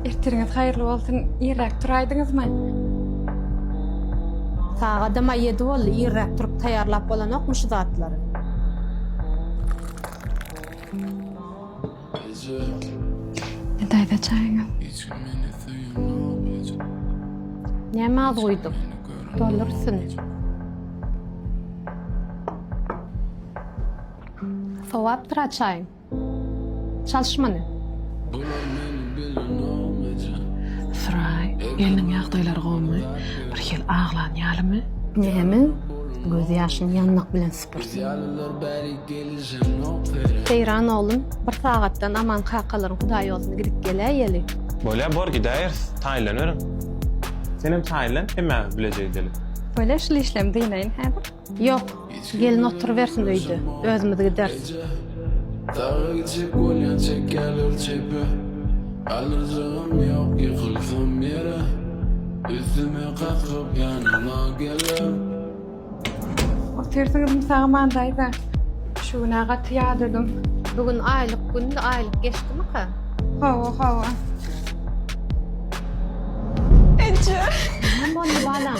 Ertiriňiz haýyrly bolsun, irräk turaýdyňyzmy? Sagadam-a ýedi boldy, irräk turup taýýarlap bolanokmy şu zatlary? Ine daýza çaýyňyz. Näme az guýduk? Doldursyn. Sowapdyr-a çaýyň. Çalyş muny. Ysyraý, gelniň ýagdaýlary gowumy? Birhili aglan ýalymy? Näme? Göz ýaşyny ýanmak bilen sypyrsyn. Seýran oglum, bir sagatdan Aman kakalaryň hudaýýoluna gidip geläýeli. Bolýar, bor gidäýeris. Taýynlanyberiň. Senem taýynlan, hemmämiz bileje gideli. Bolýar, şul işlem dynayyn häzir. Ýok, gelin oturybersin öýde, özümiz gideris. Daga gitjek bolýan çekýärler çepe, Alyrjagym ýok ýykylsam ýere, Üstüme kaklyp ýanyňa geler. Otyrsyňyzmy Sagman daýza? Şu gün-ä gaty ýadadym. Bu gün aýlyk gündi, aýlyk geçdimika? Hawa, hawa. Eje! Näme boldy balam?